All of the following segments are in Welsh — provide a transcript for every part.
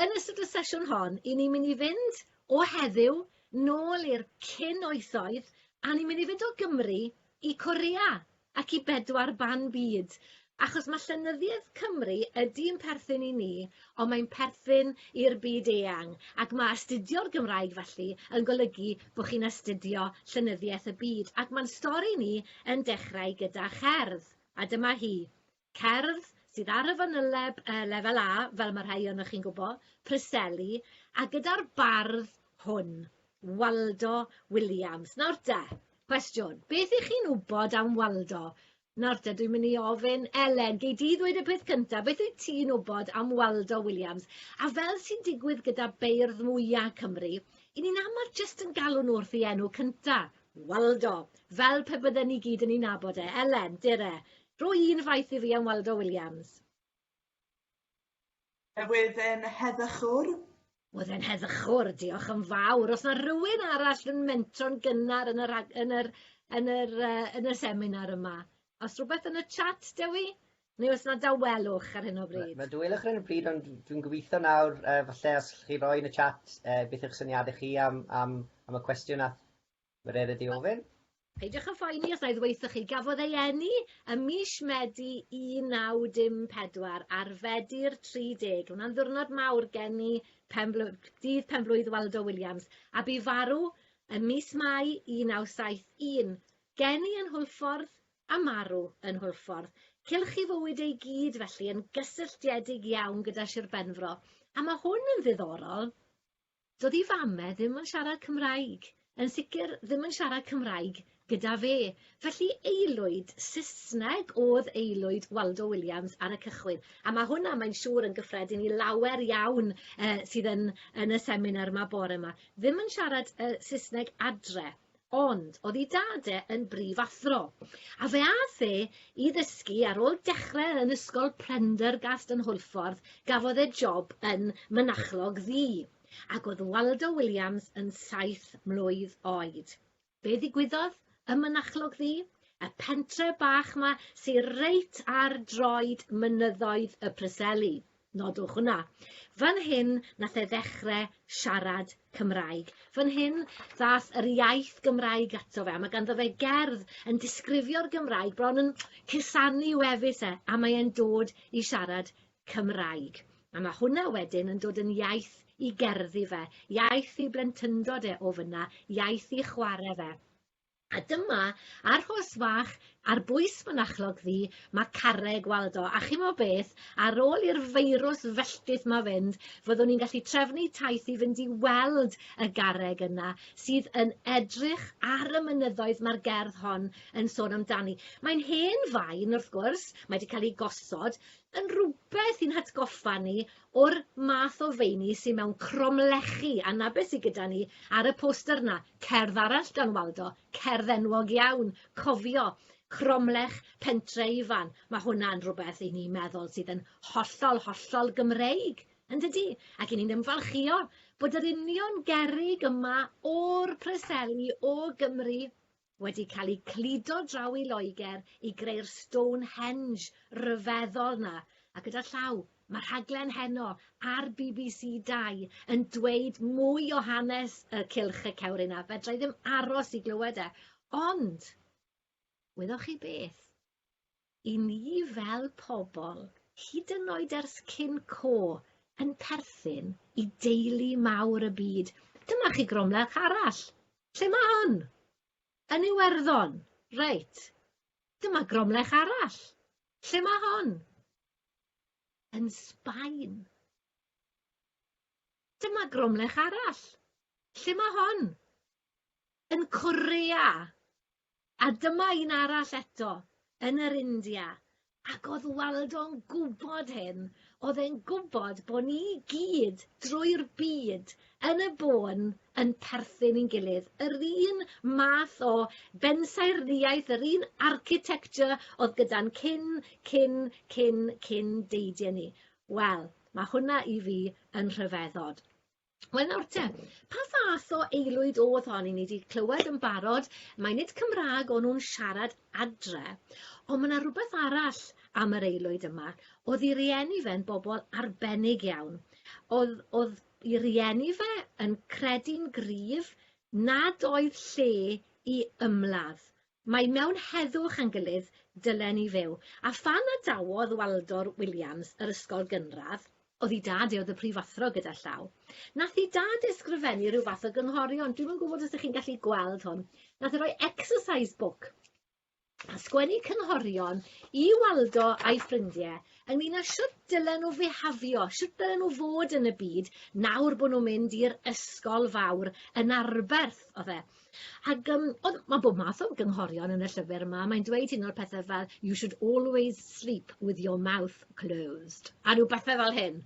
Yn ystod y sesiwn hon, i ni'n mynd i fynd o heddiw nôl i'r cyn oesoedd a ni'n mynd i fynd o Gymru i Corea ac i bedwar ban byd, achos mae llenyddiaeth Cymru ydy'n perthyn i ni, ond mae'n perthyn i'r byd eang, ac mae astudio'r Gymraeg felly yn golygu bod chi'n astudio llenyddiaeth y byd, ac mae'n stori ni yn dechrau gyda cherdd, a dyma hi. cerdd sydd ar y fanyleb yy lefel A fel ma' rhai ohonoch chi'n gwbo, Preseli, a gyda'r bardd hwn, Waldo Williams. Nawr de, cwestiwn, beth 'ych chi'n wbod am Waldo? Nawr te, dwi'n mynd i ofyn, Elen, gei di ddweud y peth cynta, beth wyt ti'n wbod am Waldo Williams? A fel sy'n digwydd gyda beirdd mwya' Cymru, 'yn ni'n aml jyst yn galw nhw wrth 'i enw cynta, Waldo, fel pe bydden ni gyd yn 'i nabod e. Elen, dere, Rwy un faith i Rhian Waldo Williams. Yr wyf yn heddychwr. Wyf yn heddychwr, diolch yn fawr. Os na rhywun arall yn mentro'n gynnar yn yr, yn yr, yn yr, uh, yn y seminar yma, os rhywbeth yn y chat, Dewi? Neu os na dawelwch ar hyn o bryd? Mae dawelwch ar hyn o bryd, ond dwi'n gobeithio nawr, uh, falle os chi roi yn y chat uh, beth yw'ch syniadau chi am, am, am y cwestiwn a Mae'n rhaid i ti ofyn. Peidiwch â phoeni os na i ddweuthoch chi, gafodd ei eni ym mis Medi 1954 ar Fedi'r 30. Hwnna'n ddiwrnod mawr gen i, penbl dydd penblwydd Waldo Williams, a bu farw ym mis Mai 1971. Geni yn Hwlffordd a marw yn Hwlffordd. Cylch i fywyd ei gyd felly, yn gysylltiedig iawn gyda Sir Benfro. A mae hwn yn ddiddorol. Dydi fame ddim yn siarad Cymraeg, yn sicr ddim yn siarad Cymraeg gyda fe, felly aelwyd Saesneg o'dd aelwyd Waldo Williams ar y cychwyn, a ma' hwnna mae'n siŵr yn gyffredin i lawer iawn yy sydd yn yn y seminar 'ma bore 'ma, ddim yn siarad yy Saesneg adre, Ond, oedd ei dad e yn brifathro, a fe ath e i ddysgu ar ôl dechrau yn ysgol Prendergast yn Hwlffordd, gafodd e job yn mynachlog ddu, ac oedd Waldo Williams yn saith mlwydd oed. Be ddigwyddodd ym Mynachlog Ddu? Y pentre bach 'ma sy reit ar droed mynyddoedd y Preseli. Nodwch hwnna. Fan hyn nath e ddechre siarad Cymraeg. Fan hyn ddath yr iaith Gymraeg ato fe a ma' ganddo fe gerdd yn disgrifio'r Gymraeg bron yn cusanu wefus e a mae e'n dod i siarad Cymraeg. A ma' hwnna wedyn yn dod yn iaith i gerddi fe, iaith i blentyndod e o fynna, iaith i chware fe. A dyma, ar hors fach, ar bwys mynachlog ddu, mae carreg, weld o. A chimo beth, ar ôl i'r feirws felltith ma fynd, fyddwn ni'n gallu trefnu taith i fynd i weld y garreg yna, sydd yn edrych ar y mynyddoedd mae'r gerdd hon yn sôn amdani. Mae'n hen faen, wrth gwrs, mae wedi cael ei gosod, yn rhywbeth i'n hatgoffa ni O'r math o feini sy mewn cromlechi, a 'na be sy gyda ni ar y poster 'na, cerdd arall gan Waldo, cerdd enwog iawn, cofio, cromlech Pentre Ifan, ma' hwnna'n rwbeth i ni meddwl sydd yn hollol, hollol Gymreig, yndydi? Ac i ni'n ymfalchïo bod yr union gerrig yma o'r Preseli, o Gymru, wedi cael eu cludo draw i Loegr i greu'r Stonehenge ryfeddol 'na, a gyda llaw, ma' rhaglen heno ar bbc Dau yn dweud mwy o hanes y Cylch y Cewri 'na, fedra i ddim aros i glywed e, ond, wyddoch chi beth? i ni fel pobl, hyd yn oed ers cyn co, yn perthyn i deulu mawr y byd. Dyma chi gromlech arall. Lle mae hwn? Yn Iwerddon. Reit. Dyma gromlech arall. Lle mae hon? Yn Sbaen. Dyma gromlech arall. Lle mae hon? Yn Corea. A dyma un arall eto, yn yr India, ac oedd Waldo'n gwybod hyn, oedd e'n gwybod bod ni i gyd drwy'r byd yn y bôn yn perthyn i'n gilydd. Yr un math o bensaernïaeth, yr un architecture oedd gyda'n cyn, cyn, cyn, cyn deidie ni. Wel, mae hwnna i fi yn rhyfeddod. Wel nawr te, pa fath o aelwyd o'dd hon, 'yn ni 'di clywed yn barod mai nid Cymra'g o'n nw'n siarad adre on' ma' 'na rwbeth arall am yr aelwyd yma, o'dd 'i rieni fe'n bobol arbennig iawn, o'dd o'dd 'i rieni fe yn credu'n gryf nad oedd lle i ymladd, Mae mewn heddwch a'n gilydd dylen ni fyw. A phan adawodd Waldor Williams yr ysgol gynradd, oedd i dad i oedd y prifathro gyda llaw, nath i dad ysgrifennu rhyw fath o gynghorion, dwi'm yn gwybod os dych chi'n gallu gweld hwn, nath e roi exercise book a sgwennu cynghorion i Waldo a'i ffrindie ynglyn â shwt dylen nhw fihafio, shwt dylen nhw fod yn y byd nawr bod nhw'n mynd i'r ysgol fawr yn arberth, oedd e. Ac um, ond mae bob math o gynghorion yn y llyfr yma. Mae'n dweud un o'r pethau fel you should always sleep with your mouth closed a rhyw bethau fel hyn.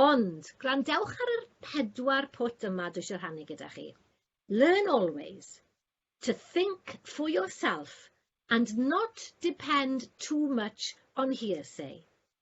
Ond gwrandewch ar yr pedwar pwt yma dwi eisiau rhannu gyda chi. Learn always to think for yourself and not depend too much on hearsay.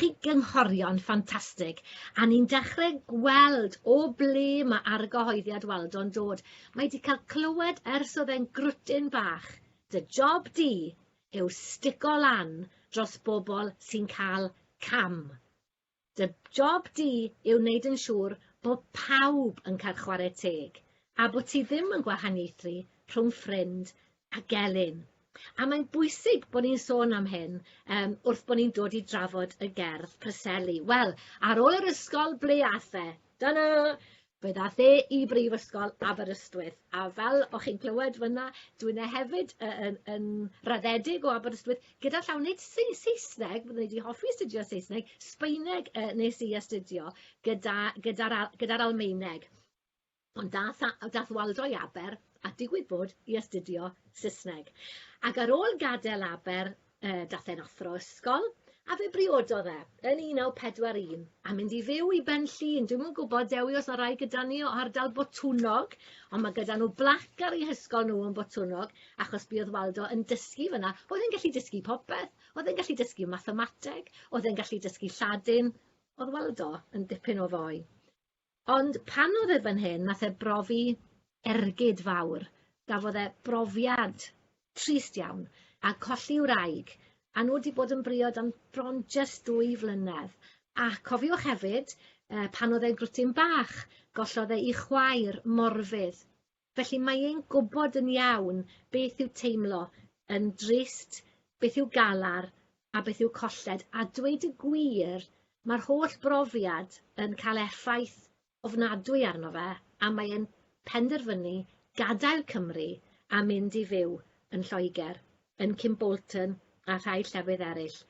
Chi gynghorion ffantastig, a ni'n dechre gweld o ble mae argyhoeddiad Waldo'n dod. Mae 'di cael clywed ers oedd e'n grwtyn bach. Dy job di yw stico lan dros bobl sy'n cael cam. Dy job di yw wneud yn siŵr bo pawb yn cael chwarae teg, a bo ti ddim yn gwahaniaethu rhwng ffrind a gelyn. A mae'n bwysig bod ni'n sôn am hyn um, wrth bod ni'n dod i drafod y gerdd Preseli. Wel, ar ôl yr ysgol, ble ath e? Dyna! Fe ddath e i Brifysgol Aberystwyth, a fel o'ch chi'n clywed fyna, dwi'n e hefyd yn, yn raddedig o Aberystwyth, gyda llaw nid Saesneg, byddwn i wedi hoffi astudio Saesneg, Sbeineg uh, nes i astudio gyda'r gyda, gyda Almaeneg. Ond dath a- dath Waldo i Aber, a digwydd bod, i astudio Sysneg. Ag ar ôl gad'el Aber yy dath e'n athro ysgol, a fe briododd e yn un naw pedwar un a mynd i fyw i Benllyn. Dwi'm yn gwbod Dewi os ma' rai gyda ni o ardal Botwnnog, ond ma' gyda nw blac ar 'u hysgol nw yn Botwnnog, achos buodd Waldo yn dysgu fyn 'na. O'dd e'n gallu dysgu popeth, o'dd e'n gallu dysgu mathemateg, o'dd e'n gallu dysgu Lladin, o'dd Waldo yn dipyn o foi. Ond pan oedd e fan hyn nath e brofi ergyd fawr, gafodd e brofiad trist iawn a colli wraig a nhw 'di bod yn briod am bron jyst dwy flynedd a cofiwch hefyd yy pan oedd e'n gwrtyn bach gollodd e 'i chwaer morfydd. Felly mae e'n gwybod yn iawn beth yw teimlo yn drist, beth yw galar a beth yw colled, a dweud y gwir, mae'r holl brofiad yn cael effaith ofnadwy arno fe a mae e'n penderfynu gadael Cymru a mynd i fyw yn Lloegr, yn Kimbolton a rhai llefydd eraill.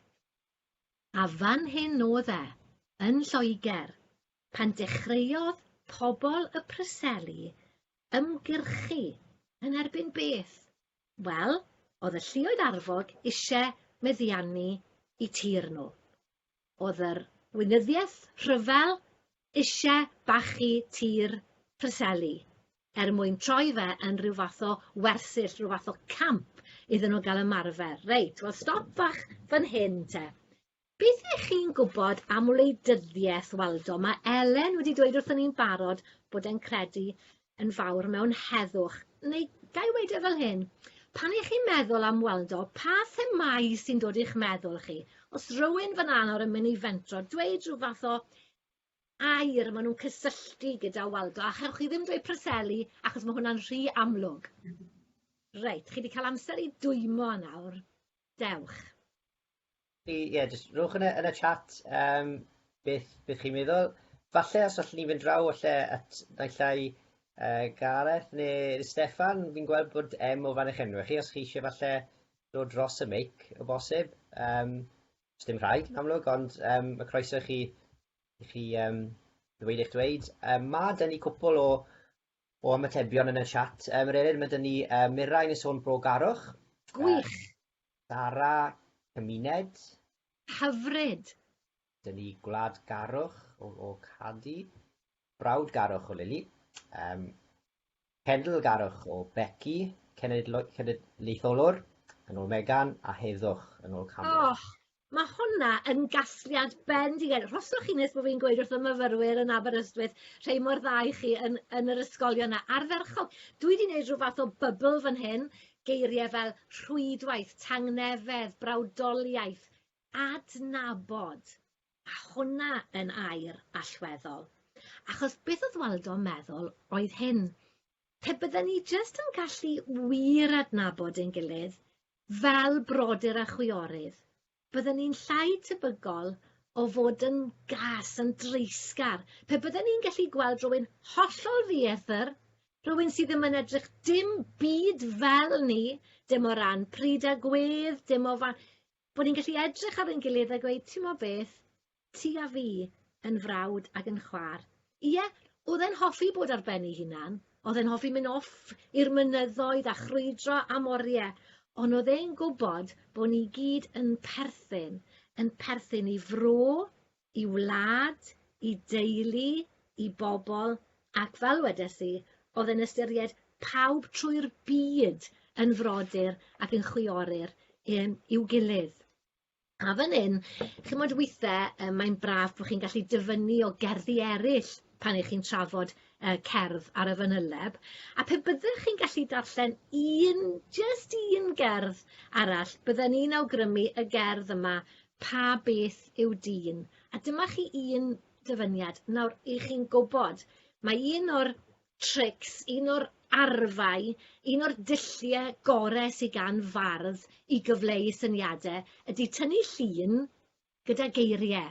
A fan hyn oedd e, yn Lloegr, pan dechreuodd pobl y Preseli ymgyrchu yn erbyn beth? Wel, oedd y lluoedd arfog isie meddiannu i tir nhw. Oedd yr Weinyddiaeth Rhyfel eisiau bachu tir Preseli er mwyn troi fe yn rhyw fath o wersyll, rhyw fath o camp iddyn nhw gael ymarfer. Reit, wel stop fach fan hyn te. Beth ych chi'n gwybod am wleidyddiaeth, Waldo? Mae Elen wedi dweud wrthyn ni'n barod bod e'n credu yn fawr mewn heddwch, neu ga i weud e fel hyn, pan i chi'n meddwl am Waldo, pa themâu sy'n dod i'ch meddwl chi? Os rywun fan nawr yn mynd i fentro, dweud rhyw fath o air maen nhw'n cysylltu gyda Waldo, a chewch chi ddim dweud Preseli, achos mae hwnna'n rhy amlwg. Reit, chi wedi cael amser i dwymo nawr. Dewch. Ie, yeah, jyst rhowch yn y, yn y chat um, beth, beth chi'n meddwl. Falle os allwn ni fynd draw falle at naillai uh, Gareth neu Stefan, fi'n gweld bod em o fan eich enw chi, os chi eisiau falle dod dros y mic o bosib. Um, os dim rhaid, yn amlwg, ond um, y croeso i chi, i chi um, ddweud eich dweud. Um, mae dyn ni cwpl o, o ymatebion yn y chat. Um, yr eryd, mae dyn ni uh, Mirain yn sôn bro garwch. Gwych! Uh, Dara cymuned. Hyfryd! Dyn ni gwladgarwch o, o Cadi, brawdgarwch o Lili, um, cenedlgarwch o Becky, cenedlaetholwr yn ôl Megan, a heddwch yn ôl Cameron. Oh, ma' hwnna yn gasgliad bendigedig. Rhoswch chi nes bod fi'n gweud wrth y myfyrwyr yn Aberystwyth rhei mor dda i chi yn yn yr ysgolion 'na. Ardderchog. Dwi 'di neud rhyw fath o bybl fan hyn, geirie fel rhwydwaith, tangnefedd, brawdoliaeth, adnabod, a hwnna yn air allweddol. Achos beth o'dd Waldo'n meddwl oedd hyn, pe bydden ni jyst yn gallu wir adnabod ein gilydd, Fel brodyr a chwiorydd, bydden ni'n llai tebygol o fod yn gas, yn dreisgar, pe bydden ni'n gallu gweld rhywun hollol ddieithr, rhywun sydd ddim yn edrych dim byd fel ni, dim o ran pryd a gwedd, dim o fa- bod ni'n gallu edrych ar ein gilydd a gweud, timod beth, Ti a fi, yn frawd ag yn chwa'r. Ie, o'dd e'n hoffi bod ar ben 'i hunan, o'dd e'n hoffi myn' off i'r mynyddoedd a chrwydro am orie, on' o'dd e'n gwbod bo' ni gyd yn perthyn, yn perthyn i fro, i wlad, i deulu, i bobol, ac fel wedes i, o'dd e'n ystyried pawb trwy'r byd yn frodyr ac yn chwioryr i'm i'w gilydd. A fan 'yn ch'mod withe yy mae'n braf bo' chi'n gallu dyfynnu o gerddi eryll pan 'ych chi'n trafod yy cerdd ar y fanyleb a pe byddech chi'n gallu darllen un, jyst un gerdd arall, bydden i'n awgrymu y gerdd yma, Pa Beth yw Dyn? A dyma chi un dyfyniad. Nawr, 'ych chi'n gwbod, mae un o'r trics, un o'r arfau, un o'r dulliau gore sy gan fardd i gyfleu syniade ydy tynnu llun gyda geirie.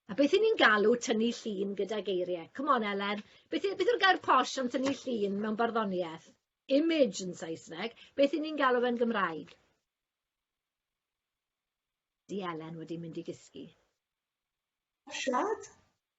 A beth 'yn ni'n galw tynnu llun gyda geirie? Come on Elen, beth y- beth yw'r gair posh am tynnu llun mewn barddoniaeth? Image yn Saesneg. Beth 'yn ni'n galw fe'n Gymraeg? Di Elen wedi mynd i gysgu. Siad?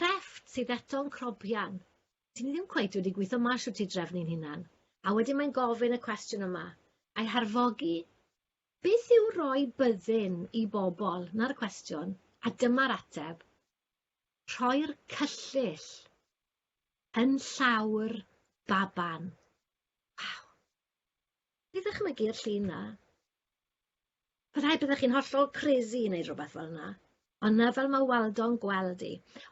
crefft sydd eto'n crobian. Dyn ni ddim cweit wedi gweithio mas shwt i drefnu ein hunan. A wedyn mae'n gofyn y cwestiwn yma, a'i harfogi, beth yw roi byddin i bobl? Na'r cwestiwn, a dyma'r ateb, rhoi'r cyllyll yn llaw'r baban. Waw! I ddychmygu y llun 'na. Byddai byddech chi'n hollol crazy i wneud rhywbeth fel 'na. Ond 'na fel ma' Waldo'n gweld 'i.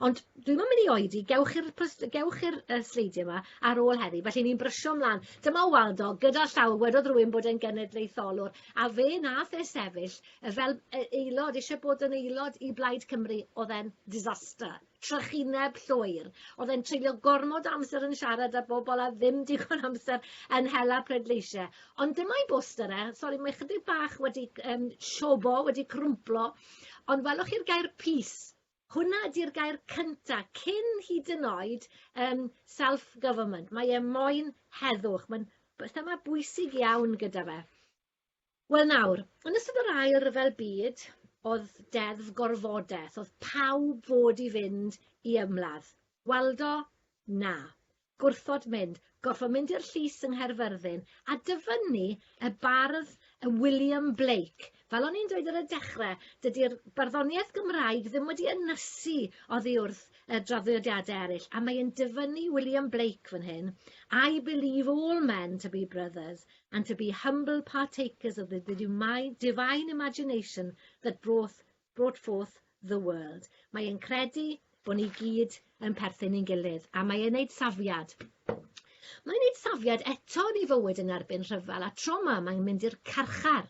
Ond dwi'm yn mynd i oedi, gewch chi'r pwst- gewch chi'r yy sleidie 'ma ar ôl heddi, felly ni'n brysio mlan. Dyma Waldo gyda llaw, wedodd rywun bod e'n genedlaetholwr, a fe nath e sefyll yy fel yy aelod, isie bod yn aelod i Blaid Cymru, o'dd e'n disaster. trychineb llwyr. Oedd e'n treulio gormod amser yn siarad â bobl a ddim digon amser yn hela pleidleisiau. Ond dyma'i boster e, sori mae chydig bach wedi um, siobo, wedi crwmplo, ond welwch chi'r gair peace. Hwna ydy'r gair cyntaf, cyn hyd yn oed um, self-government. Mae e moyn heddwch, mae'n thema bwysig iawn gyda fe. Wel nawr, yn ystod yr ail ryfel byd, oedd deddf gorfodaeth, oedd pawb fod i fynd i ymladd. Waldo, na. Gwrthod mynd, gorfod mynd i'r llys yng Nghaerfyrddin, a dyfynnu y bardd y William Blake. Fel o'n i'n dweud ar y dechrau, dydy'r barddoniaeth Gymraeg ddim wedi ynysu oddi wrth y draddodiadau eraill, a mae e'n dyfynnu William Blake fan hyn, I believe all men to be brothers, and to be humble partakers of the, the divine imagination that brought, brought forth the world. Mae e'n credu bod ni gyd yn perthyn i'n gilydd, a mae e'n neud safiad. Mae'n neud safiad eto yn ei fywyd yn erbyn rhyfel a troma, mae'n mynd i'r carchar.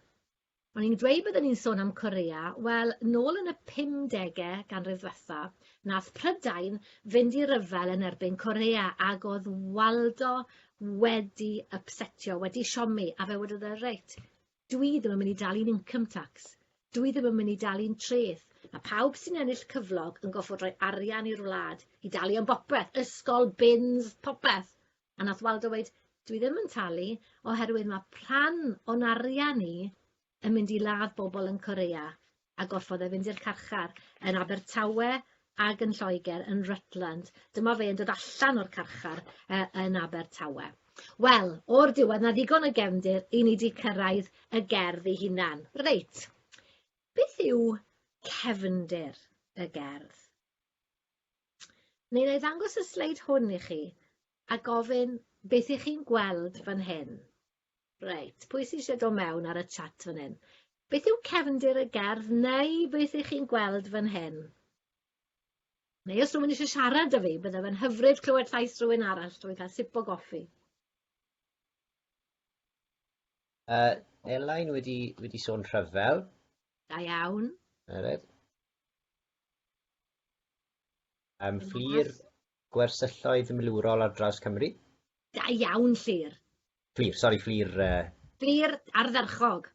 O'n i'n dweud byddwn ni'n sôn am Korea, wel, nôl yn y 50au ganrif ddiwetha, nath Prydain fynd i ryfel yn erbyn Korea ac oedd Waldo wedi ypsetio, wedi siomi, a fe wedodd e, reit, dwi ddim yn mynd i dalu'n income tax, dwi ddim yn mynd i dalu'n treth, a pawb sy'n ennill cyflog yn goffod rhoi arian i'r wlad i dalu am bopeth, ysgol, bins, popeth. A nath Waldo weud, dwi ddim yn talu oherwydd ma' rhan o'n arian ni yn mynd i ladd bobl yn Korea a gorfod e fynd i'r carchar yn Abertawe ag yn Lloegr yn Rutland. Dyma fe yn dod allan o'r carchar uh, yn Abertawe. Wel, o'r diwedd, na ddigon o gefndir i ni di cyrraedd y gerdd i hunan. Reit, beth yw cefndir y gerdd? Mi wna i ddangos y sleid hwn i chi a gofyn beth ych chi'n gweld fan hyn. Reit, pwy sy'n eisiau dod mewn ar y chat fan hyn? Beth yw cefndir y gerdd neu beth ych chi'n gweld fan hyn? Neu os rhywun eisiau siarad â fi, bydde fe'n hyfryd clywed llais rhywun arall drwy cael sip o goffi. Uh, Elain wedi, wedi sôn rhyfel. Da iawn. Alright. Yym, Fflur, gwersylloedd milwrol ar draws Cymru. Da iawn, Llŷr. Fflur, sori, Fflur... Uh... Fflur ardderchog.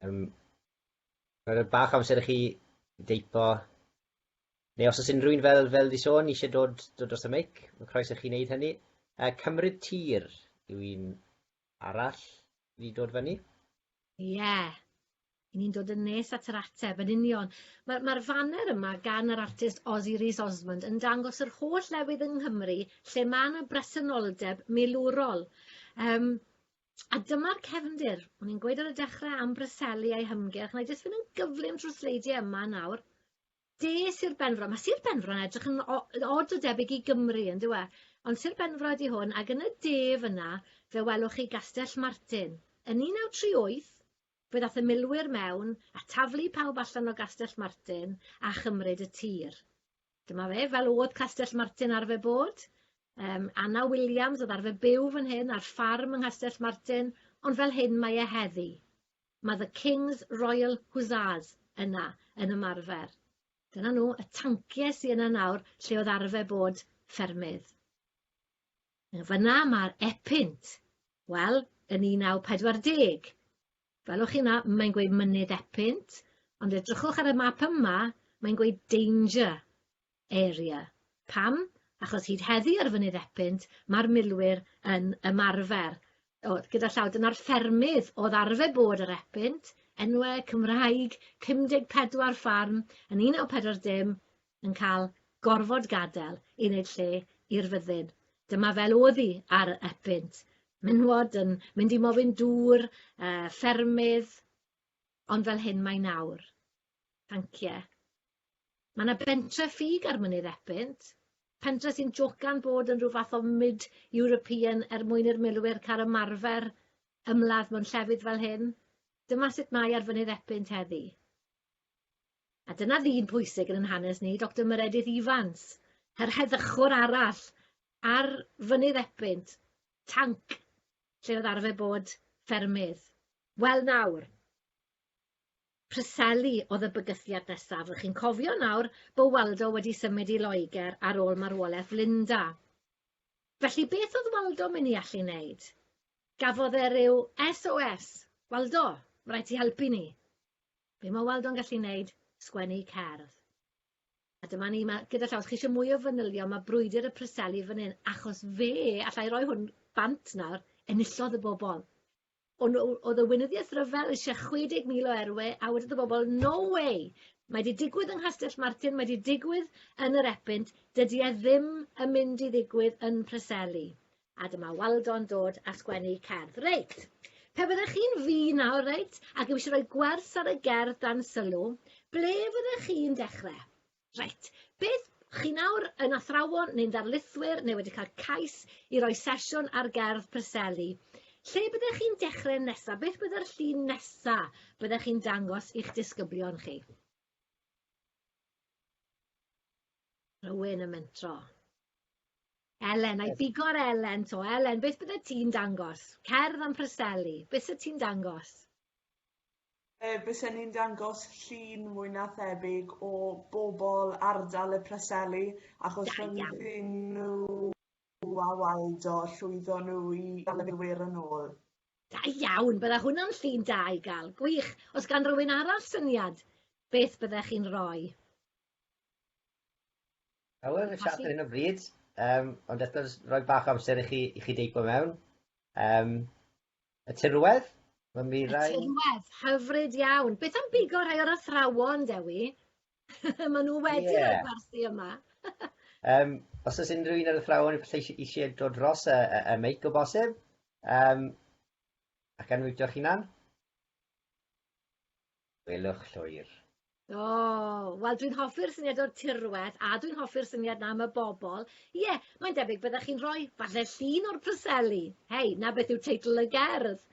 Um, Rhaid bach amser i chi deipo. Neu os oes unrhyw un fel, fel di sôn eisiau dod, dod dros y meic, mae croes i chi wneud hynny. Uh, cymryd tir yw un arall i dod fyny? Ie, i ni'n dod yn nes at yr ateb, yn union. Mae'r ma faner yma gan yr artist Ozzy Rees Osmond yn dangos yr holl lefydd yng Nghymru lle mae yna bresenoldeb milwrol. Um, A dyma'r cefndir. O'n i'n gweud ar y dechrau am Bryseli a'i hymgyrch, na i jyst fynd yn gyflym trwy sleidiau yma nawr. De Sir Benfro. Mae Sir Benfro yn edrych yn od o debyg i Gymru, yn dyw e? Ond Sir Benfro ydy hwn, ac yn y de fyna, fe welwch chi Gastell Martin. Yn 1938, fe ddath y milwyr mewn a taflu pawb allan o Gastell Martin a chymryd y tir. Dyma fe, fel oedd Castell Martin arfer bod. Um, Anna Williams oedd arfer byw fan hyn ar ffarm yng Nghastell Martin, ond fel hyn mae e heddi. Mae The King's Royal Hussars yna yn ymarfer. Dyna nhw, y tanciau sy yna nawr lle oedd arfer bod ffermydd. Fyna mae'r Epynt. Wel, yn 1940. Welwch chi 'na, mae'n gweud mynydd Epynt, ond edrychwch ar y map yma, mae'n gweud danger. Area. Pam? Achos hyd heddi ar Fynydd Epynt mae'r milwyr yn ymarfer, oedd gyda llaw, dyna'r ffermydd oedd arfer bod ar Epynt, enwau Cymraeg, 54 ffarm yn 1940 yn cael gorfod gadael i wneud lle i'r fyddin. Dyma fel oedd hi ar Epynt, menywod yn mynd i mofyn dŵr, uh, ffermydd, ond fel hyn mae nawr. Tancie. Mae 'na bentre ffug ar Mynydd Epynt, pentre sy'n jocan bod yn rhyw fath o mid European er mwyn i'r milwyr cael ymarfer ymladd mewn llefydd fel hyn. Dyma sut mae ar Fynydd Epynt heddi. A dyna ddyn pwysig yn 'yn hanes ni, Doctor Meredith Evans, yr heddychwr arall ar Fynydd Epynt, tanc lle oedd arfer bod ffermydd. Wel nawr, Preseli oedd y bygythiad nesaf. Rych chi'n cofio nawr bo Waldo wedi symud i Loegr ar ôl marwolaeth Linda. Felly beth oedd Waldo mynd i allu wneud? Gafodd e ryw SOS. Waldo, mae rhaid ti helpu ni. Be mae Waldo'n gallu wneud? Sgwennu cerdd. A dyma ni, mae, gyda llaw, os chi eisiau mwy o fanylion, mae brwydr y Preseli fan hyn, achos fe, allai roi hwn bant nawr, enillodd y bobl. O' n'w o'dd y weinyddieth ryfel isie chwe deg mil o erwe a wedodd y bobol no way mae 'di digwydd yng Nghastell Martin mae 'di digwydd yn yr Epynt dydi e ddim yn mynd i ddigwydd yn Preseli a dyma Waldo'n dod a sgwennu cerdd reit pe fyddech chi'n fi nawr reit ac eisiau rhoi gwers ar y gerdd dan sylw ble fyddech chi'n dechre Reit, beth, chi nawr yn athrawon neu'n ddarlithwyr neu wedi cael cais i roi sesiwn ar gerdd Preseli. Lle byddech chi'n dechrau nesaf? Beth byddai'r llun nesaf byddech chi'n dangos i'ch disgyblion chi? Rhywun yn mentro. Elen, I bigo ar Elen to. Elen, beth byddai ti'n dangos? Cerdd am Preseli. Beth sydd ti'n dangos? Yy bysen ni'n dangos llun mwy na thebyg o bobl ardal y Preseli achos Da iawn. rhyngrwyn nhw a Waldo llwyddo nhw i dal y milwyr yn ôl. Da iawn, bydda hwnna'n llun da i gael. Gwych. Os gan rywun arall syniad, beth byddech chi'n roi? Hywel, fi'n siarad ar hyn o bryd, yym ond eto jyst rhoi bach o amser i chi i chi deipo mewn. Yym Y tirwedd? Mae'n mi rai... Y tirwedd, hyfryd iawn. Beth am bigo rhai o'r athrawon, Dewi? Maen nhw wedi yeah. rhoi gwersi yma. um, os oes unrhyw un o'r athrawon eisiau, eisiau dod dros y, y, y meic o bosib, um, ac anwytio'ch hunan. Gwelwch llwyr. O, wel dwi'n hoffi'r syniad o'r tirwedd a dwi'n hoffi'r syniad na am y bobl. Ie, mae'n debyg byddech chi'n rhoi falle llun o'r proseli. Hei, na beth yw teitl y gerdd.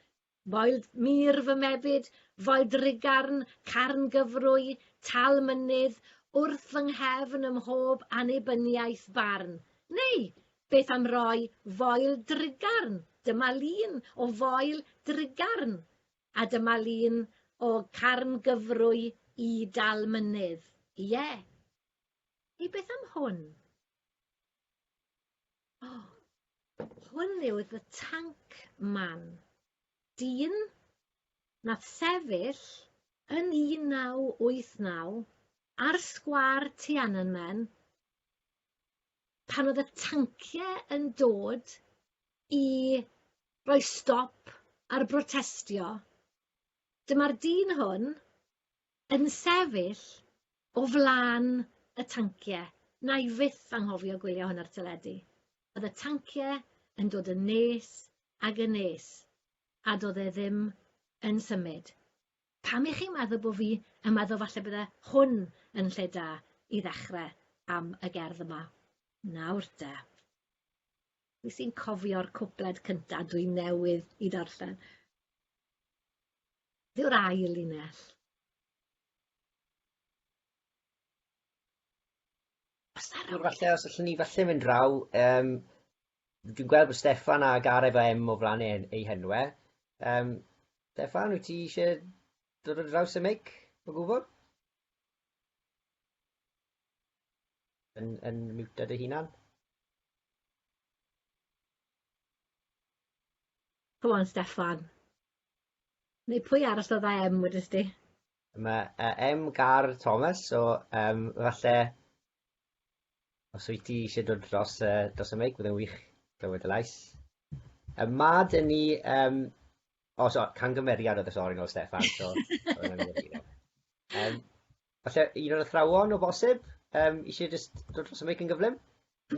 Foel mur fy mebyd, foel drugarn, carn gyfrwy, tal mynydd, wrth fy nghefn ym mhob annibyniaeth barn. Neu, beth am roi foel drugarn? Dyma lun o foel drugarn. A dyma lun o Carn Gyfrwy i Dal Mynydd. Ie. Hei beth am hwn? O! Hwn yw The Tank Man. Dyn nath sefyll yn 1989 ar sgwâr Tiananmen pan oedd y tancie yn dod i roi stop ar brotestio, dyma'r dyn hwn yn sefyll o flaen y tancie. Wna i fyth anghofio gwylio hwn ar teledu. Oedd y tancie yn dod yn nes ag yn nes, a doedd e ddim yn symud. Pam i chi maddo bo fi yn maddo falle bydde hwn yn lle da i ddechre am y gerdd yma. Nawr de. Fi sy'n cofio'r cwpled cynta dwi newydd i darllen. Dyw'r ail linell. Os na rhywbeth... Falle os allwn ni falle mynd draw, um, Dwi'n gweld bod Steffan a Gareth efo M o flan eu eu henwe. Yym, Steffan, wyt ti isie dod ar draws y meic o gwbwl? Yn yn miwta dy hunan? Come on Steffan. Neu pwy arall oedd â M wedest ti? Mae uh, M Gar Thomas, so um, falle Os wyt ti eisiau dod dros y, dros y meic, bydd yn wych clywed y lais. Y mad yn ni... Um, o, so, cangymeriad oedd y sori nôl Stefan. So, um, falle un o'r athrawon o bosib um, eisiau just dod dros y meic yn gyflym?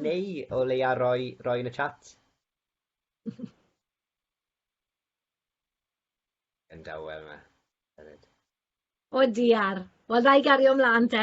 Neu o leia roi, roi yn y chat? Yn dawel yma. O diar. Wel, ddau gario ymlaen te.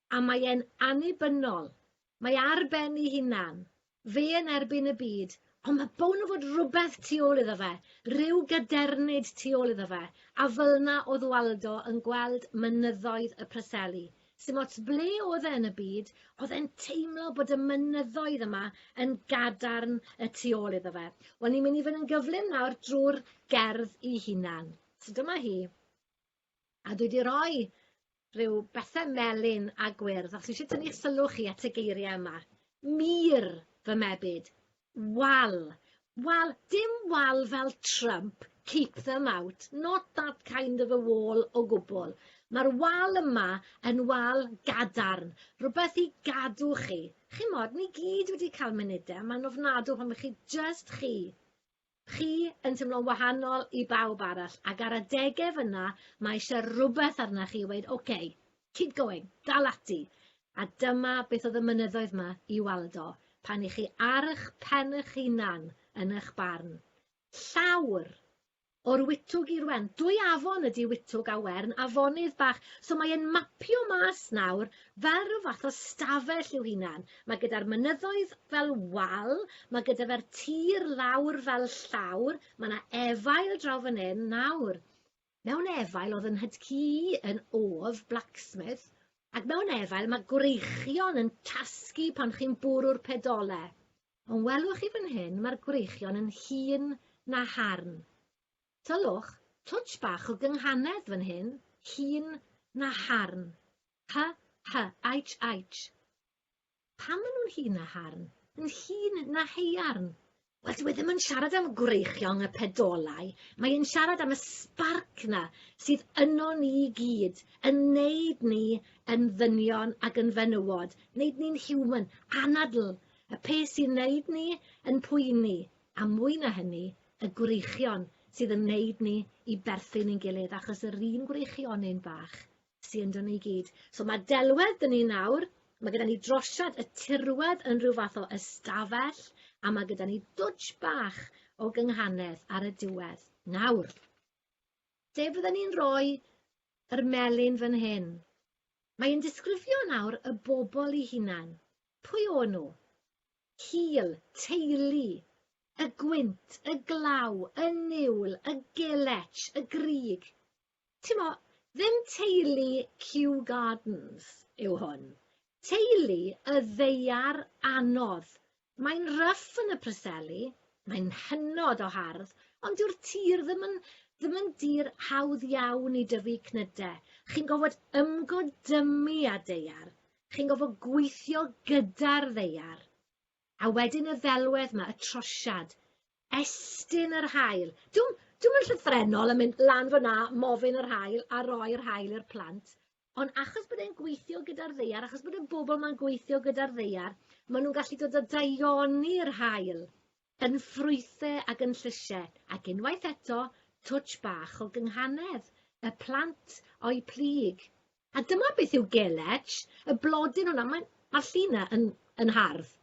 A mae e'n annibynnol. Mae ar ben ei hunan. Fe yn erbyn y byd. Ond mae bown o fod rhywbeth tu ôl iddo fe, rhyw gadernid tu ôl iddo fe, a fylna o'dd Waldo yn gweld mynyddoedd y Preseli. Sdim ots ble o'dd e yn y byd, o'dd e'n teimlo bod y mynyddoedd yma yn gadarn y tu ôl iddo fe. Wel, ni'n mynd i fyn' yn gyflym nawr drwy'r gerdd 'i hunan. So dyma hi. A dwi 'di roi rhyw bethe melyn a gwyrdd, os eisiau tynnu'ch sylw chi at y geiriau yma. Mur, fy mebyd. Wal. Wal, dim wal fel Trump, keep them out, not that kind of a wall o gwbl. Mae'r wal yma yn wal gadarn, rhywbeth i gadw chi. Chimod, ni gyd wedi cael munudau yma'n ofnadw pan mae chi jyst chi. Chi yn teimlo'n wahanol i bawb arall, ac ar adegau fyna mae eisiau rhywbeth arna chi i weud, OK, keep going, dal ati. A dyma beth oedd y mynyddoedd yma i Waldo, pan i chi ar eich pen eich hunan yn eich barn. Llawr! O'r Witwg i'r Wern. Dwy afon ydy Witwg a Wern, afonydd bach, so mae e'n mapio mas nawr fel rhyw fath o stafell i'w hunan. Mae gyda'r mynyddoedd fel wal, mae gyda fe'r tir lawr fel llawr, mae yna efail draw fan hyn nawr. Mewn efail oedd yn hydcu yn of blacksmith, ac mewn efail mae gwreichion yn tasgu pan chi'n bwrw'r pedole. Ond welwch chi fan hyn, mae'r gwreichion yn hun na harn. Tyllwch twtsh bach o gynghanedd fan hyn, hŷn na harn. Hy, hy, aitsh, aitsh. Pam maen nhw'n hŷn na harn? Yn hŷn na haearn? Wel, dyw e ddim yn siarad am gwreichiong y pedolau, mae e'n siarad am y sbarc 'na sydd ynon ni i gyd, yn neud ni yn ddynion ac yn fenywod, neud ni'n human, anadl, y peth sy'n neud ni yn poeni, a mwy na hynny, y gwreichion sydd yn neud ni i berthyn i'n gilydd achos yr un gwreichionyn bach sy ynddo ni i gyd. So mae delwedd dyn ni nawr, mae gyda ni drosiad y tirwedd yn rhyw fath o ystafell a mae gyda ni dwtsh bach o gynghanedd ar y diwedd. Nawr, lle fydden ni'n rhoi yr melyn fan hyn? Mae'n disgrifio nawr y bobl i hunan. Pwy o'n nhw? cul, teulu, y gwynt, y glaw, y niwl, y gelec, y grug. Timo, ddim teulu Kew Gardens yw hwn. Teulu y ddaear anodd. Mae'n ryff yn y Preseli, mae'n hynod o hardd, ond dyw'r tir ddim yn ddim yn dir hawdd iawn i dyfu cnyde. Chi'n gofod ymgodymu â daear. Chi'n gorfod gweithio gyda'r ddaear. A wedyn y ddelwedd 'ma, y trosiad, estyn yr haul. Dwi'm, dwi'm yn llythrennol yn mynd lan fyna, mofyn yr haul a roi'r haul i'r plant, ond achos bod e'n gweithio gyda'r ddaear, achos bod y bobl 'ma'n gweithio gyda'r ddaear, maen nhw'n gallu dod a daioni'r haul Yn ffrwythe ag yn llysie, ac unwaith eto, twtsh bach o gynghanedd, y plant o'u plyg. A dyma beth yw gelech, y blodyn hwnna, mae, mae'r llun yna yn, yn hardd.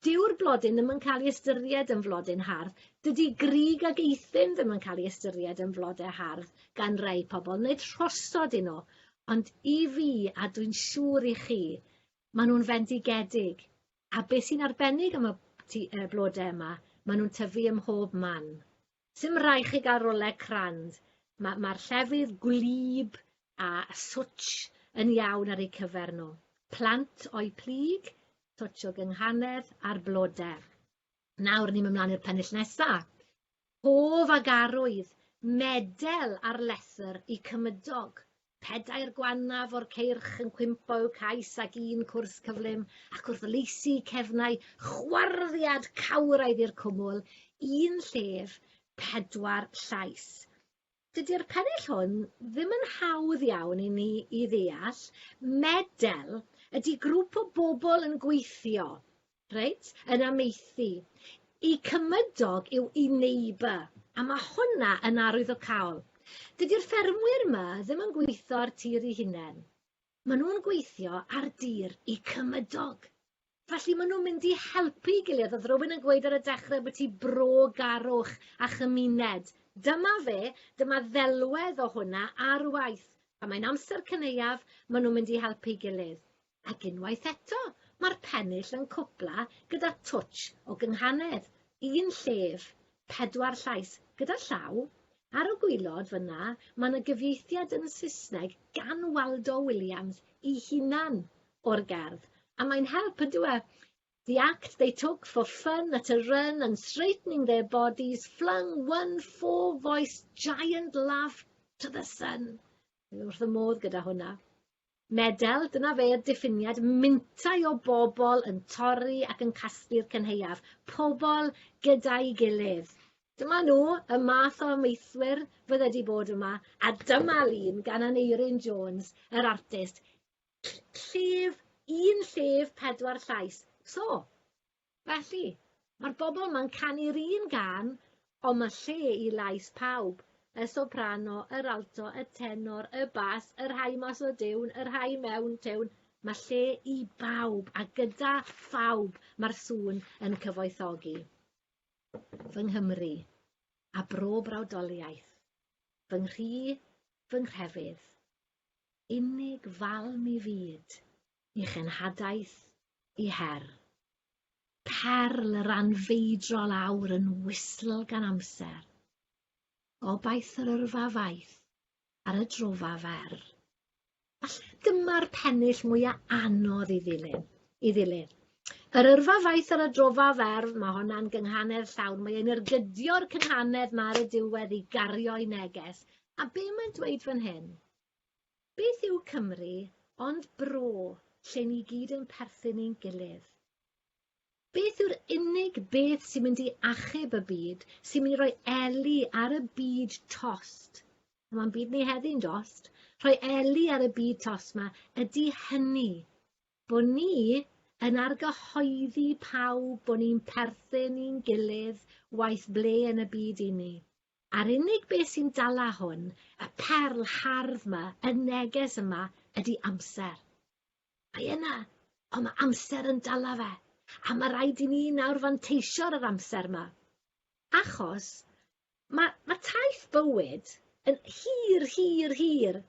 Dyw'r blodyn ddim yn cael ei ystyried yn flodyn hardd. Dydy grug ag eithin ddim yn cael ei ystyried yn flodau hardd gan rai pobl, nid rhosod i nhw. Ond i fi, a dwi'n siŵr i chi, maen nhw'n fendigedig. A be sy'n arbennig am y ti, uh, blode yma, maen nhw'n tyfu ym mhob man. Sim rai chi gael roleg crand. Mae'r ma, llefydd gwlyb a swtch yn iawn ar eu cyfer nhw. Plant o'i plyg, swtch o gynghanedd a'r blode. Nawr ni'n mynd mlaen i'r pennill nesaf. Hoff ag arwydd, medel ar lethr y cymydog, pedair gwannaf o'r ceirch yn cwympo i'w cais ac un cwrs cyflym, ac wrth laesu cefnau, chwarddiad cawraidd i'r cwmwl, un llef, pedwar llais. Dydy'r pennill hwn ddim yn hawdd iawn i ni i ddeall, medel ydy grŵp o bobl yn gweithio, reit, yn amaethu. Y cymydog yw i neighbour, a mae hwnna yn arwyddocaol. Dydy'r ffermwyr 'ma ddim yn gweithio'r tir i hunain. Maen nhw'n gweithio ar dir i cymydog. Felly maen nhw'n mynd i helpu'i gilydd. Oedd rhywun yn gweud ar y dechrau bod ti bro garwch a chymuned. Dyma fe, dyma ddelwedd o hwnna ar waith. Pan mae'n amser cynaeaf, maen nhw'n mynd i helpu'i gilydd. Ac unwaith eto, mae'r pennill yn cwpla gyda twtsh o gynghanedd, un llef, Pedwar llais, gyda llaw. Ar y gwaelod fan'na, mae 'na gyfieithiad yn y Saesneg gan Waldo Williams ei hunan o'r gerdd, a mae'n help, yn dyw e? The act they took for fun at a run and straightening their bodies flung one four-voiced giant laugh to the sun. Dwi wrth fy modd gyda hwnna. Medel, dyna fe y diffiniad, mintau o bobl yn torri ac yn casglu'r cynhaeaf, pobl gyda'i gilydd. Dyma nhw, y math o amaethwyr fydde 'di bod yma, a dyma lun gan Aneurin Jones, yr artist, ll- llef, un llef, pedwar llais. So, Felly, mae'r bobl ma'n canu'r un gân, ond mae lle i lais pawb, y soprano, yr alto, y tenor, y bas, y rhai mas o diwn, y rhai mewn tiwn, mae lle i bawb, a gyda phawb mae'r sŵn yn cyfoethogi. Fy Nghymru, a bro brawdoliaeth, fy nghri, fy nghrefydd, unig fal mi fyd, i genhadaeth i her. Perl yr anfeidrol awr yn wisl gan amser. Gobaith yr yrfa faith ar y drofa fer. Falle dyma'r pennill mwya anodd i ddilyn, i ddilyn. Yr yrfa faith ar y drofa fer, mae honna'n gynghanedd llawn. Mae e'n ergydio'r cynghanedd mae ar y diwedd i gario'i neges. A be mae'n dweud fan hyn? Beth yw Cymru ond bro lle ni gyd yn perthyn i'n gilydd? Beth yw'r unig beth sy'n mynd i achub y byd, sy'n mynd i roi eli ar y byd tost? Mae'n byd ni heddi'n dost. Rhoi eli ar y byd tost yma ydy hynny, bod ni yn argyhoeddi pawb bod ni'n perthyn i'n gilydd waeth ble yn y byd i ni. A'r unig beth sy'n dala hwn, y perl hardd 'ma, y neges yma, ydi amser. Mae yna, ond mae amser yn dala fe, a mae rhaid i ni nawr fanteisio ar yr amser yma. Achos mae, mae taith bywyd yn hir, hir, hir,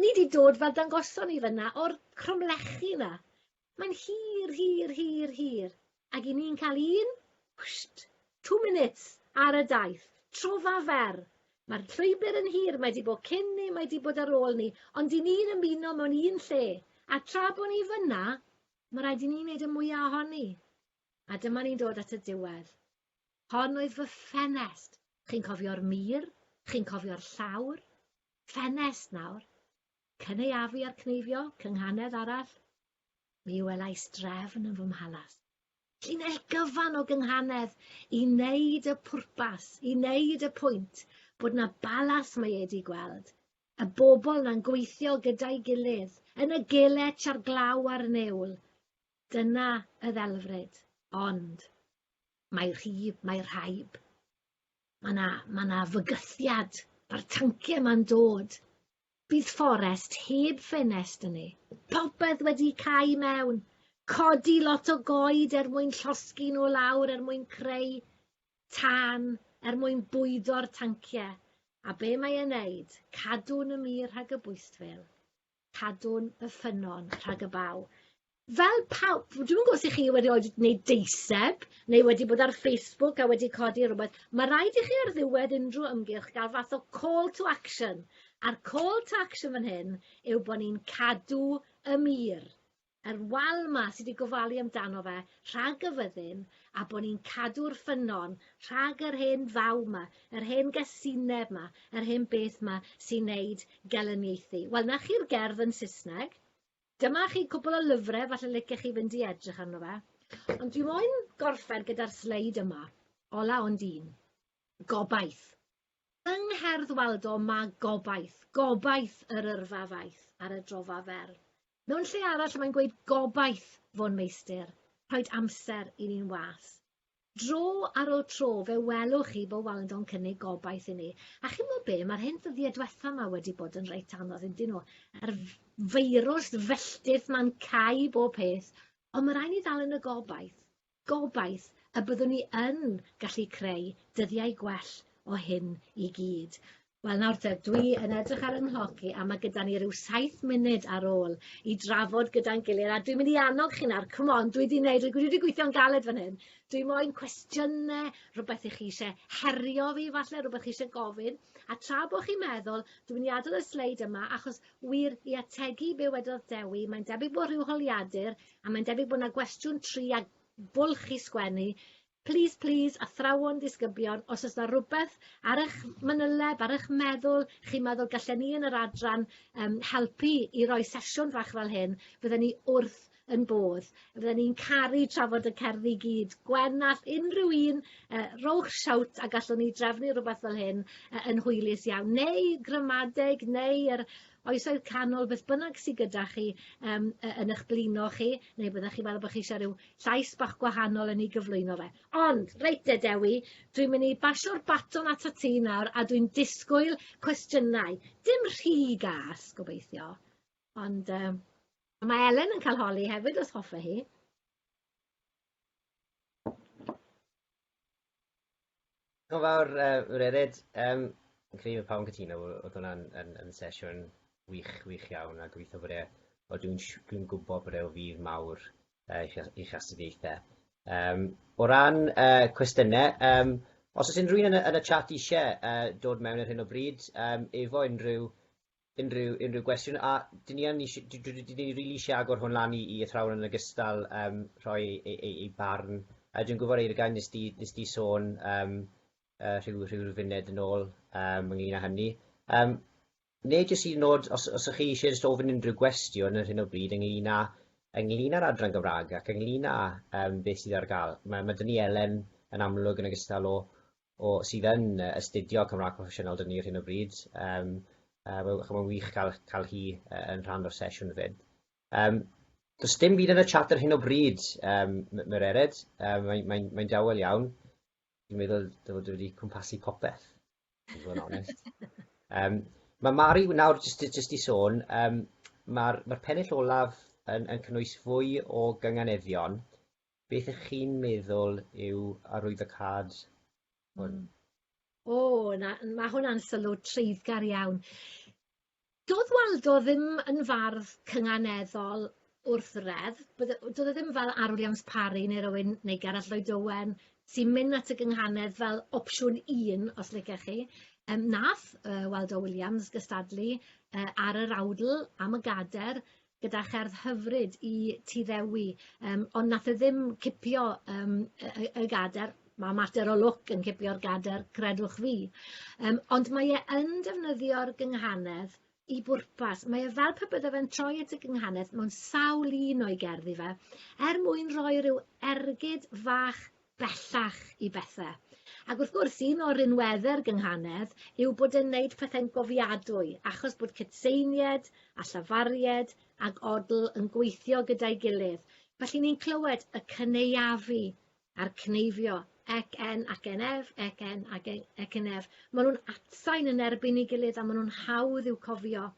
Ni 'di dod fel dangoson ni fynna o'r cromlechi 'na. Mae'n hir, hir, hir, hir, ag 'yn ni'n cael un, wsht, two minutes, ar y daith, trofa fer. Mae'r llwybr yn hir, mae 'di bod cyn ni, mae 'di bod ar ôl ni, ond 'yn ni'n ymuno mewn un lle, a tra bo' ni fynna, ma' raid i ni wneud y mwya' ohoni. A dyma ni'n dod at y diwedd. Hon oedd fy ffenest. Chi'n cofio'r mur? Chi'n cofio'r llawr? Ffenest nawr. Cynaeafu a'r cneifio, cynghanedd arall. Mi welais drefn yn fy mhalas. Llinell gyfan o gynghanedd i wneud y pwrpas, i wneud y pwynt bod na balas mae ei di gweld. Y bobl na'n gweithio gyda'i gilydd, yn y gelec a'r glaw a'r newl. Dyna y ddelfryd. Ond mae rhyb, mae rhaib. Ma' 'na ma' 'na fygythiad, ma'r tancie 'ma'n dod. Bydd fforest heb ffenest yn e. Popeth wedi cau i mewn. Codi lot o goed er mwyn llosgi nhw lawr er mwyn creu tân, er mwyn bwydo'r tancie. A be mae e'n neud? Cadw'n y mur rhag y bwystfil. Cadwn y ffynnon rhag y baw. Fel pawb, dwi'm yn gwybod os 'y chi wedi oed wneud deiseb neu wedi bod ar Facebook a wedi codi rhywbeth, mae rhaid i chi ar ddiwedd unrhyw ymgyrch gael fath o call to action, a'r call to action fan hyn yw bod ni'n cadw y mur. Yr wal 'ma sy' 'di gofalu amdano fe rhag y fyddin, a bo' ni'n cadw'r ffynnon rhag yr hen faw 'ma, yr hen gasineb 'ma, yr hen beth 'ma sy'n neud gelyniaethu. Wel, 'na chi'r gerdd yn Saesneg. Dyma chi cwpwl o lyfre falle licech chi fynd i edrych arno fe. Ond dwi moyn gorffen gyda'r sleid yma, ola ond un. Gobaith. Yng ngherdd Waldo mae gobaith, gobaith yr yrfa faith ar y drofa fer. Mewn lle arall mae'n gweud gobaith fo'n meistr, rhoed amser i ni'n was. Dro ar ôl tro fe welwch chi bod Waldo'n cynnig gobaith i ni. A chi'n mo be, mae'r hyn ddyddiau diwetha yma wedi bod yn reit anodd yn dyn nhw. Yr feirws felltith ma'n cau bob peth, ond mae rhaid ni ddal yn y gobaith. Gobaith y byddwn ni yn gallu creu dyddiau gwell o hyn i gyd. Wel nawr te, dwi yn edrych ar 'y nghloc i a ma' gyda ni ryw saith munud ar ôl i drafod gyda'n gilydd a dwi'n mynd i annog chi nawr, come on, dwi 'di neud, dwi 'di gweithio'n galed fan hyn. Dwi moyn cwestiyne, rwbeth i chi isie herio fi falle, rwbeth chi isie gofyn, a tra bo' chi'n meddwl, dwi'n mynd i adel y sleid yma achos wir, i ategu be' wedodd Dewi, mae'n debyg bo' rhyw holiadur A mae'n debyg bod yna gwestiwn tri a bwlch i sgwennu. Please, please, athrawon disgyblion, os oes yna rhywbeth ar eich manyleb, ar eich meddwl, chi'n meddwl gallen ni yn yr adran um, helpu i roi sesiwn fach fel hyn, fydden ni wrth yn bodd. Fydden ni'n caru trafod y cerddi i gyd. Gwen all unrhyw un uh, rowch siawt a gallwn ni drefnu rhywbeth fel hyn uh, yn hwylus iawn. Neu gramadeg, neu yr Oesoedd Canol, beth bynnag sy gyda chi um, yn eich blino chi, neu byddwch chi'n meddwl bod chi eisiau rhyw llais bach gwahanol yn ei gyflwyno fe. Ond, reit de Dewi, dwi'n mynd i basio'r baton at y ti nawr a dwi'n disgwyl cwestiynau. Dim rhy gas, gobeithio. Ond um, mae Elen yn cael holi hefyd os hoffe hi. Diolch yn fawr, Mererid. Yym, fi'n credu bod pawb yn cytuno fod, oedd hwnna'n yn, yn sesiwn wych, wych iawn, a gobeithio bod e, o dwi'n, dwi'n gwybod bod e o fydd mawr uh, i'ch, i'ch astudiaethau. Um, o ran uh, cwestiynau, um, os oes unrhyw un yn y, yn y chat eisiau uh, dod mewn ar hyn o bryd, um, efo unrhyw unrhyw unrhyw gwestiwn a dyn ni yn ni dwi dwi dwi ni rili eisiau agor hwn lan i i athrawon yn ogystal yym rhoi ei ei ei ei barn a dwi'n gwybod Eirgau nes di nes di sôn yym yy rhyw rhyw rhyw funed yn ôl yym ynglyn â hynny yym neu jyst hyd yn nod os os ych chi eisiau jyst ofyn unrhyw gwestiwn ar hyn o bryd ynglyn â ynglyn â'r adran Gymraeg ac ynglyn â yym beth sydd ar gael ma' ma' dyn ni Elen yn amlwg yn ogystal o o, sydd yn astudio Cymraeg Proffesiynol dyn ni ar hyn o bryd. Um, uh, mae'n wych cael, cael hi uh, yn rhan o'r sesiwn fyd. Um, Does dim byd yn y chat ar hyn o bryd, um, mae'r ered, um, mae'n mae, mae dawel iawn. Dwi'n meddwl dod wedi cwmpasu popeth, i fod yn onest. Um, mae Mari, nawr jyst, jyst i sôn, um, mae'r mae pennill olaf yn, yn cynnwys fwy o gynganeddion Beth ych chi'n meddwl yw arwyddocâd hwn? O, 'na, ma' hwnna'n sylw treiddgar iawn. Do'dd Waldo ddim yn fardd cynganeddol wrth wredd, bydde- yy do'dd e ddim fel Arwr Jans Parry ne' rywun, neu Gareth Lloyd Owen, sy'n myn' at y gynghanedd fel opsiwn un, os licech chi. Yym nath yy Waldo Williams gystadlu yy ar yr awdl am y gader gyda cherdd hyfryd i ti ddewi yym ond nath e ddim cipio yym y y y gader ma' mater o lwc yn cipio'r gader credwch fi yym ond mae e yn defnyddio'r gynghanedd i bwrpas mae e fel pe bydde fe'n troi at y gynghanedd mewn sawl un o'i gerddi fe er mwyn rhoi ryw ergyd fach bellach i bethe. Ac wrth gwrs, un o'r rinweddau'r gynghanedd yw bod e'n neud pethau'n gofiadwy, achos bod cydseinied a llafaried ac odl yn gweithio gyda'i gilydd. Felly ni'n clywed y cyneuafu a'r cneifio, ec en ac en ef, ec en ac en ef. Maen nhw'n atsain yn erbyn ei gilydd a maen nhw'n hawdd i'w cofio.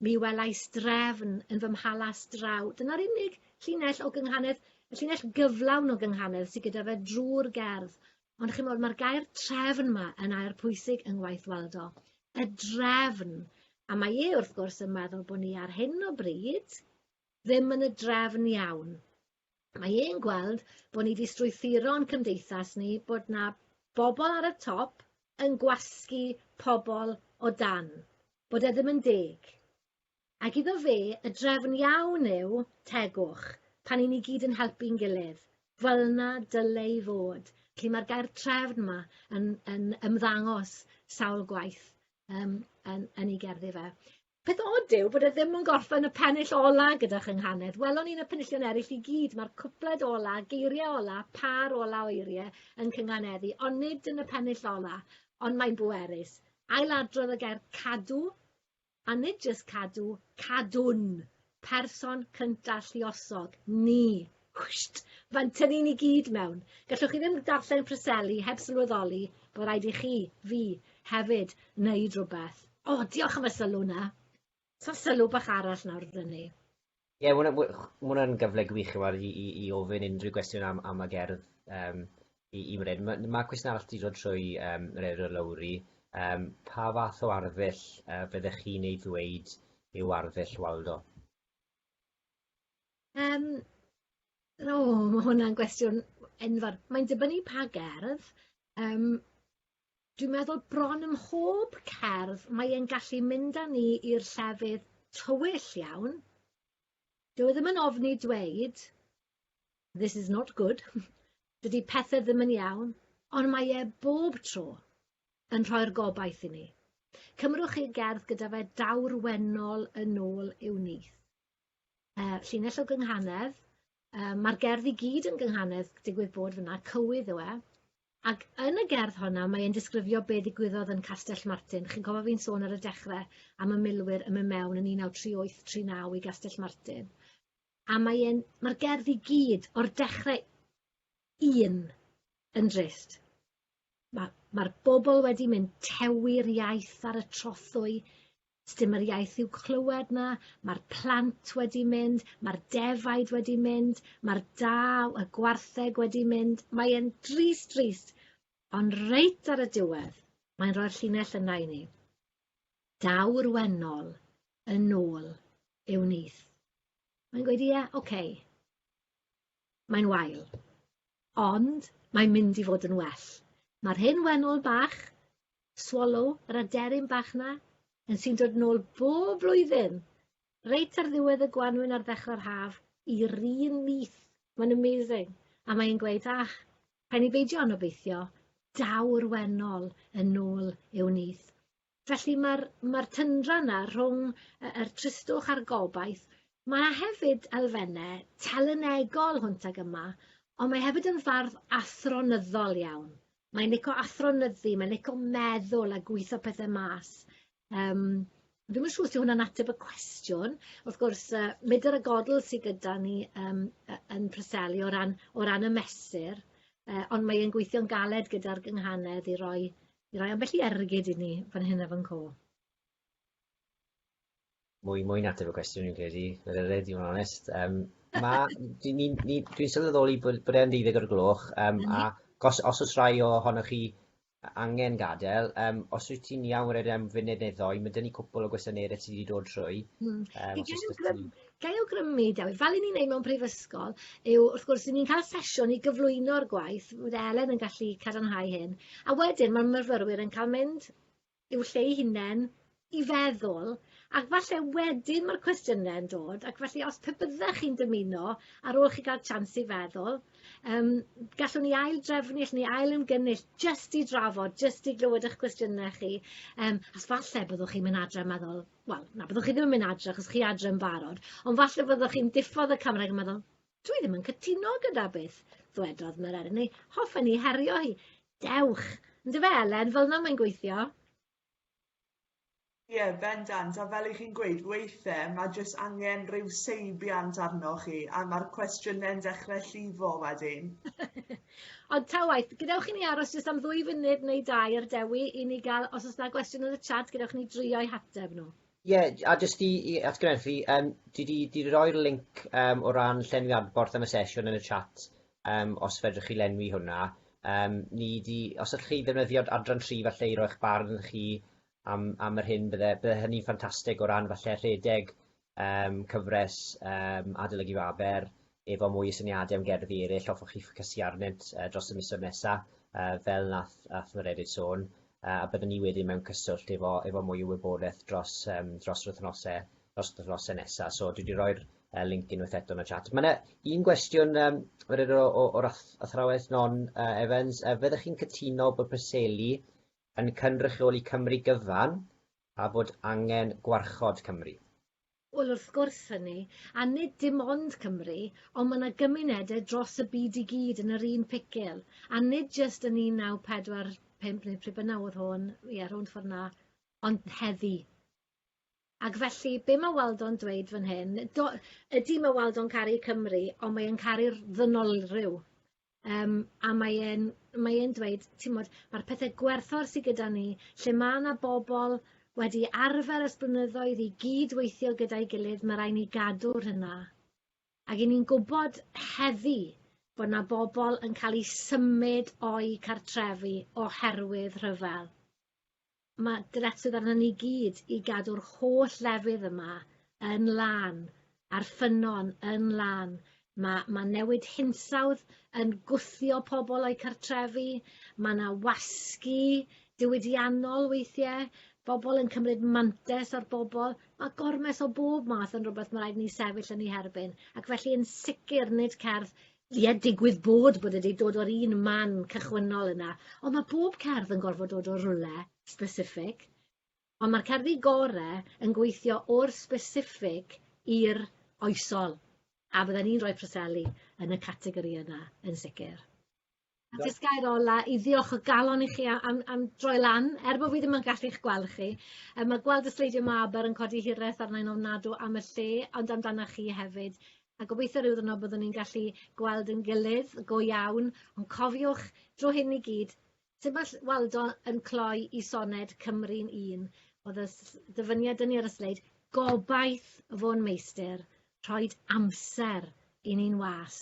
Mi welais drefn yn fy mhalas draw. Dyna'r unig llinell o gynghanedd, y llinell gyflawn o gynghanedd sydd gyda fe drwy'r gerdd. Ond chi'n modd, mae'r gair trefn yma yn air pwysig yng ngwaith Waldo. Y drefn. A mae e, wrth gwrs, yn meddwl bod ni ar hyn o bryd ddim yn y drefn iawn. Mae e'n gweld bod ni 'di strwythuro'n cymdeithas ni, bod 'na bobl ar y top yn gwasgu pobl o dan, bod e ddim yn deg. Ac iddo fe, y drefn iawn yw tegwch, pan 'yn ni gyd yn helpu'n gilydd. Fel 'na dyle i fod. Felly mae'r gair 'trefn' 'ma yn yn ymddangos sawl gwaith yym yn yn 'i gerddi fe. Peth od yw bod e ddim yn gorffen y pennill ola gyda chynghanedd. Welon ni'n y penillion eraill i gyd, mae'r cwpled ola, geiriau ola, pâr ola o eiriau yn cynghaneddu, ond nid yn y pennill ola, ond mae'n bwerus. Ailadrodd y gair cadw, a nid jyst cadw, cadwn! person cynta lluosog, ni. Wsht! Fan tynnu ni gyd mewn. Gallwch chi ddim darllen Preseli heb sylweddoli bod rhaid i chi, fi, hefyd, wneud rhywbeth. O, oh, diolch am y sylw na. Sa'n sylw bach arall nawr dda ni. Ie, yeah, mae hwnna'n gyfle gwych i, i, i ofyn unrhyw gwestiwn am, am y gerdd. Um, i, i wneud. Mae ma cwestiwn arall wedi dod trwy um, Rero Lowry. Um, pa fath o arddull uh, byddech chi'n ei ddweud yw arddull Waldo? Um, o, oh, mae hwnna'n gwestiwn enfawr. Mae'n dibynnu pa gerdd. Um, dwi'n meddwl bron ym mhob cerdd mae e'n gallu mynd â ni i'r llefydd tywyll iawn. Dwi e ddim yn ofni dweud this is not good, dydy pethau ddim yn iawn, ond mae e bob tro yn rhoi'r gobaith i ni. Cymrwch chi gerdd gyda fe dawr wenol yn ôl i'w nith. Uh, llinell o gynghanedd, uh, mae'r gerdd i gyd yn gynghanedd digwydd bod fyna, cywydd yw e, ac yn y gerdd honna mae'n disgrifio be ddigwyddodd yn Castell Martin. Chi'n cofio fi'n sôn ar y dechrau am y milwyr yn mynd mewn yn 1938-39 i Gastell Martin. a mae e'n... Ma'r gerdd i gyd, o'r dechre un, yn drist. Ma' ma'r bobl wedi mynd tewi'r iaith ar y trothwy, sdim yr iaith i'w clywed 'na, ma'r plant wedi mynd, ma'r defaid wedi mynd, ma'r da, y gwartheg wedi mynd, mae e'n drist, drist, ond reit ar y diwedd, mae'n rhoi'r llinell yna i ni. Daw'r wennol yn ôl i'w nyth. Mae'n gweud, ie, ok. Mae'n wael. Ond mae'n mynd i fod yn well. Mae'r hen wennol bach, swallow, yr aderyn bach 'na, yn sy'n dod nôl bob blwyddyn, reit ar ddiwedd y gwanwyn ar ddechrau'r haf, i'r un nyth. Mae'n amazing. A mae'n gweud, ah, Pen i beidio yn obeithio, daw'r wennol yn nôl i'w nyth. Felly mae'r ma tyndra yna rhwng y, yr tristwch a'r gobaith. Mae yna hefyd elfennau telynegol hwnt ag yma, ond mae hefyd yn fardd athronyddol iawn. Mae'n lico athronyddu, mae'n lico meddwl a gwitho pethau mas. Um, ddim yn siŵr os yw hwnna'n ateb y cwestiwn. Wrth gwrs, uh, medr y godl sydd gyda ni um, yn Preseli o ran, o ran y mesur, uh, ond mae'n gweithio'n galed gyda'r gynghanedd i roi, i roi ambell i ergyd i ni fan hyn a fan co. mwy mwy natur o gwestiwn i'n credu, yr yrred i fod yn onest. Um, ma, dwi, ni, ni, dwi'n sylweddoli bod, bod e'n ddeuddig o'r gloch, um, mm -hmm. a mhm. gos, os oes rhai ohonoch chi angen gadael, um, os wyt ti'n iawn wneud am funud neu ddoi, mae dyn ni cwpl o gwestiynau sydd wedi dod trwy. Mm. Um, Gai awgrymu, Dewyd, fel i ni'n neud mewn prifysgol, yw wrth gwrs ni'n cael sesiwn i gyflwyno'r gwaith, bydd Elen yn gallu cadarnhau hyn, a wedyn mae'r myfyrwyr yn cael mynd i'w lle ei hunen i feddwl, ac falle wedyn mae'r cwestiynau yn dod, ac felly os pe byddech chi'n dymuno, ar ôl chi gael chance i feddwl, um, gallwn ni ail drefnu, gallwn ni ail ymgynnull, jyst i drafod, jyst i glywed eich cwestiynau chi, um, as falle byddwch chi'n mynd adre yn meddwl, wel, na, byddwch chi ddim yn mynd adre, achos chi adre yn barod, ond falle byddwch chi'n diffodd y camera yn meddwl, Dwi ddim yn cytuno gyda beth ddwedodd Merenni. Hoffen ni herio hi. Dewch! Ynddo fe, Elen, fel yna mae'n gweithio. Ie, yeah, bendant, a fel i chi'n gweud, weithiau mae jyst angen rhyw seibiant arnoch chi, a mae'r cwestiynau'n dechrau llifo wedyn. Ond ta waith, gadewch i ni aros jyst am ddwy funud neu dau ar dewi i ni gael, os oes yna gwestiwn yn y chat, gadewch i ni drio'i hateb nhw. Ie, a jyst i i atgynnerthu yym dwi 'di 'di roi'r linc yym o ran llenwi adborth am y sesiwn yn y chat yym os fedrwch chi lenwi hwnna yym ni 'di... Os allwch chi ddefnyddio adran tri falle i roi'ch barn chi am am yr hyn bydde bydde hynny'n ffantastig o ran falle rhedeg yym cyfres yym adolygu Faber efo mwy o syniade am gerddi eryll hoffwch chi ffocysu arnynt yy dros y misoedd nesa yy fel nath nath Mererid sôn yy a bydden ni wedyn mewn cyswllt efo efo mwy o wybodaeth dros yym dros yr wthnose dros yr wthnose nesa so dwi 'di roi'r yy linc unwaith eto yn y chat. Ma' 'na un gwestiwn yym wedyn o o o'r ath- athrawes Non yy Evans yy fyddech chi'n cytuno bod Preseli yn cynrychioli Cymru gyfan a bod angen gwarchod Cymru? Wel, wrth gwrs hynny, a nid dim ond Cymru, ond mae 'na gymunedau dros y byd i gyd yn yr un picil, a nid jyst yn 1945 neu pryd bynnag oedd hon, ie, rownd ffordd 'na, ond heddi. Ac felly, be mae Waldo'n dweud fan hyn, do, ydy mae Waldo'n caru Cymru, ond mae e'n caru'r ddynolryw. Um, a mae e'n mae e'n dweud, ti'n modd, mae'r pethau gwerthfawr sydd gyda ni, lle mae yna bobl wedi arfer ys blynyddoedd i gyd weithio gyda'i gilydd, mae rhaid ni gadw'r hynna. Ac i ni'n gwybod heddi bod yna bobl yn cael eu symud o'i cartrefi oherwydd rhyfel. Mae dyletswydd arnyn ni gyd i gadw'r holl lefydd yma yn lân, a'r ffynnon yn lân. Mae, mae newid hinsawdd yn gwthio pobl o'u cartrefi, mae yna wasgu diwydiannol weithiau, bobl yn cymryd mantais ar bobl, mae gormes o bob math yn rhywbeth mae rhaid ni sefyll yn ei herbyn, ac felly yn sicr nid cerdd Ie, digwydd bod bod e 'di dod o'r un man cychwynnol yna, ond ma' bob cerdd yn gorfod dod o rywle specific, ond ma'r cerddi gore yn gweithio o'r specific i'r oesol, a bydden i'n rhoi Preseli yn y categori yna, yn sicr. A jyst gair ola i ddiolch o galon i chi a- am am droi lan er bo' fi ddim yn gallu 'ych gweld chi yy ma' gweld y sleidio 'ma b'r yn codi hireth arnai'n ofnadw am y lle ond amdana chi hefyd a gobeithio ryw ddiwrnod byddwn ni'n gallu gweld ein gilydd go iawn ond cofiwch drw hyn i gyd sut ma' ll- Waldo yn cloi 'i soned Cymru'n un o'dd y s- dyfyniad 'dyn ni ar y sleid gobaith fôn meistr rhoid amser i ni'n was.